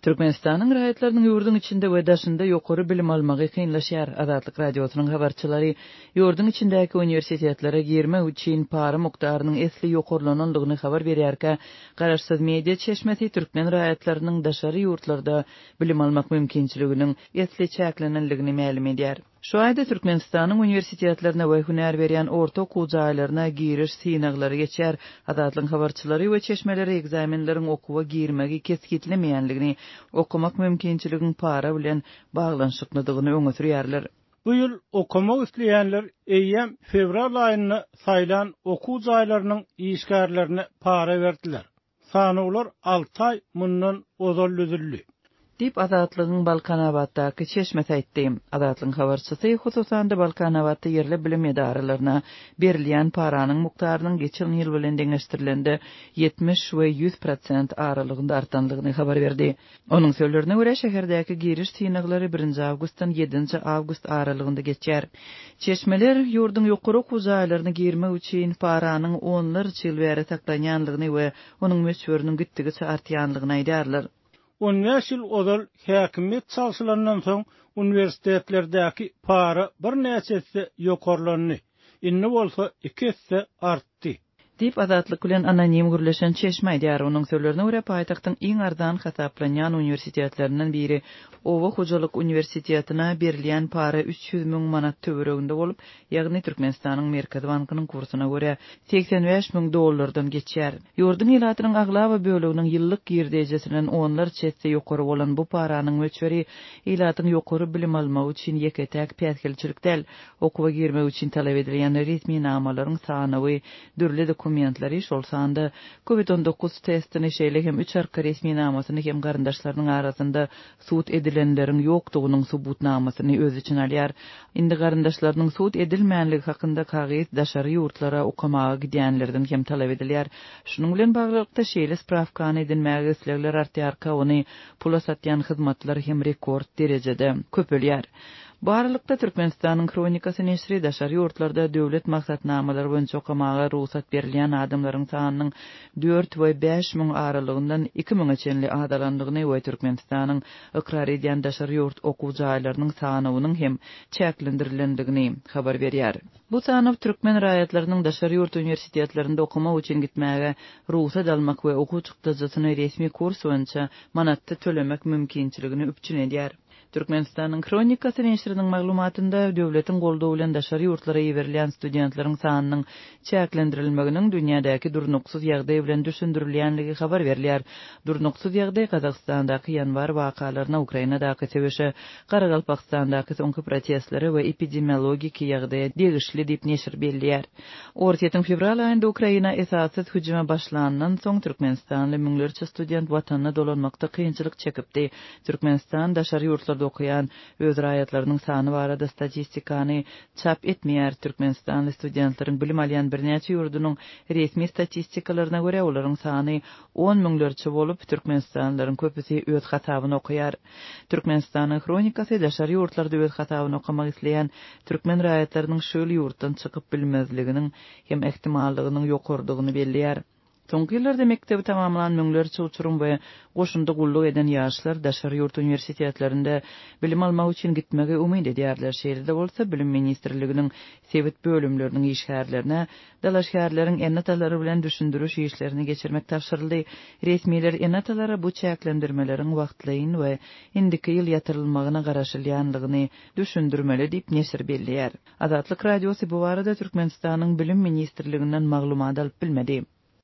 Türkmenistanyň raýatlarynyň ýurduň içinde we daşynda ýokary bilim almagy kynlaşýar. Azatlyk Radiosynyň habarçylary ýurduň içindäki uniwersitetlere girmek üçin para mukdarynyň esli ýokarlanandygyny habar berýärkä, garaşsyz media çeşmesi türkmen raýatlarynyň daşary ýurtlarda bilim almak mümkinçiliginiň esli çäklenendigini mälim edýär. Şu aýda Türkmenistanyň uniwersitetlerine we hünär berýän orta okuw jaýlaryna giriş synaglary geçer. Azatlygyň habarçylary we çeşmeleri ekzamenleriň okuwa girmegi kesgitlemeýändigini, okamak mümkinçiligiň para bilen baglanyşyklydygyny öňe sürýärler. Bu ýyl okamak isleýänler eýýäm fewral aýynda saýlan okuw jaýlarynyň işgärlerine para berdiler. Sanawlar alty aý mundan ozal düzüldi. Diýip, Azatlygyň Balkanabatdaky çeşmesi aýtdy. Azatlygyň habarçysy, hususan-da, Balkanabatda ýerli bilim edaralaryna berilýän paranyň mukdarynyň geçen ýyl bilen deňeşdirilende ýetmiş we ýüz prosent aralygynda artandygyny habar berdi. Onuň sözlerine görä, şäherdäki giriş synaglary birinji awgustdan ýedinji awgust aralygynda geçer. Çeşmeler, ýurduň ýokary okuw jaýlaryna girmek üçin paranyň onlarça ýyl bäri saklanýanlygyny we onuň möçberiniň gitdigiçe artýanlygyny aýdýarlar. On bäş ýyl ozal häkimiýet çalşylandan soň, uniwersitetlerdäki para birnäçe esse ýokarlandy, indi bolsa iki esse artdy. etdi. Diýip, Azatlyk bilen anonim gürleşen çeşme aýdýar. Onuň sözlerine görä, paýtagtyň iň arzan hasaplanýan uniwersitetlerinden biri Oba hojalyk uniwersitetine berilýän para üç ýüz müň manat töwereginde bolup, ýagny Türkmenistanyň Merkezi bankynyň kursyna görä, segsen bäş müň dollardan geçýär. Ýurduň ilatynyň aglaba böleginiň ýyllyk girdejisinden onlarça esse ýokary bolan bu paranyň möçberi ilatyň ýokary bilim almagy üçin ýeke-täk päsgelçilik däl, Okuwa girmek üçin talap edilýän resminamalaryň sanawy, dürli dokumentleri, şol sanda Covid on dokuz testini, şeýle hem üç arka resminamasyny hem garyndaşlarynyň arasynda sud edilenleriň ýokdugynyň subutnamasyny öz içine alýar. Indi garyndaşlarynyň sud edilmänligi hakynda kagyz daşary ýurtlara okamaga gidýänlerden hem talap edilýär. Şunuň bilen baglylykda, şeýle sprawkany edinmäge islegler artýarka, ony pula satýan hyzmatlar hem rekord derejede köpelýär. Bu aralykda, Türkmenistanyň Kronikasy neşri daşary ýurtlarda döwlet maksatnamalary boýunça okamaga rugsat berilýän adamlaryň sanynyň dört we bäş müň aralygyndan iki müňe çenli azalandygyny we Türkmenistanyň ykrar edýän daşary ýurt okuw jaýlarynyň sanawynyň hem çäklendirilendigini habar berýär. Bu sanaw türkmen raýatlarynyň daşary ýurt uniwersitetlerinde okamak üçin gitmäge rugsat almak we okuw çykdajysyny resmi kurs boýunça manatda tölemek mümkinçiligini üpjün edýär. Türkmenistanyň Hronikasy neşiriniň maglumatynda döwletiň goldawy bilen daşary ýurtlara iberilýän studentleriň sanynyň çäklendirilmeginiň dünýädäki durnuksyz ýagdaý bilen düşündirilýänligi habar berilýär. Durnuksyz ýagdaý Gazagystandaky ýanwar wakalaryna, Ukrainadaky söweşe, Garagalpakstandaky soňky protestlere we epidemiologiki ýagdaýa degişli diýip neşir belleýär. Orsýetiň fewral aýynda Ukraina esassyz hüjüme başlanyndan soň türkmenistanly müňlerçe student watanyna dolanmakda kynçylyk çekipdi. Türkmenistan daşary ýurtlarda okaýan öz raýatlarynyň sany barada statistikany çap etmeýär. Türkmenistanly studentleriň bilim alýan birnäçe ýurdunyň resmi statistikalaryna görä, olaryň sany on müňlerçe bolup, türkmenistanlylaryň köpüsi öz hasabyna okaýar. Türkmenistanyň hronikasy daşary ýurtlarda öz hasabyna okamak isleýän türkmen raýatlarynyň şu ýyl ýurtdan çykyp bilmezliginiň hem ähtimallygynyň ýokarydygyny belleýär. Soňky ýyllarda mekdebi tamamlan müňlerçe uçurym we goşunda gulluk eden ýaşlar daşary ýurt uniwersitetlerinde bilim almak üçin gitmegi umyt edýärler, şeýle-de bolsa Bilim ministrliginiň sebit bölümleriniň işgärlerine dalaşgärleriň ene-atalary bilen düşündiriş işlerini geçirmek tabşyryldy. Resmiler ene-atalara bu çäklendirmeleriň wagtlaýyn we indiki ýyl ýatyrylmagyna garaşylýandygyny düşündirmeli diýip neşir belleýär. Azatlyk Radiosy bu barada Türkmenistanyň Bilim ministrliginden maglumat alyp bilmedi.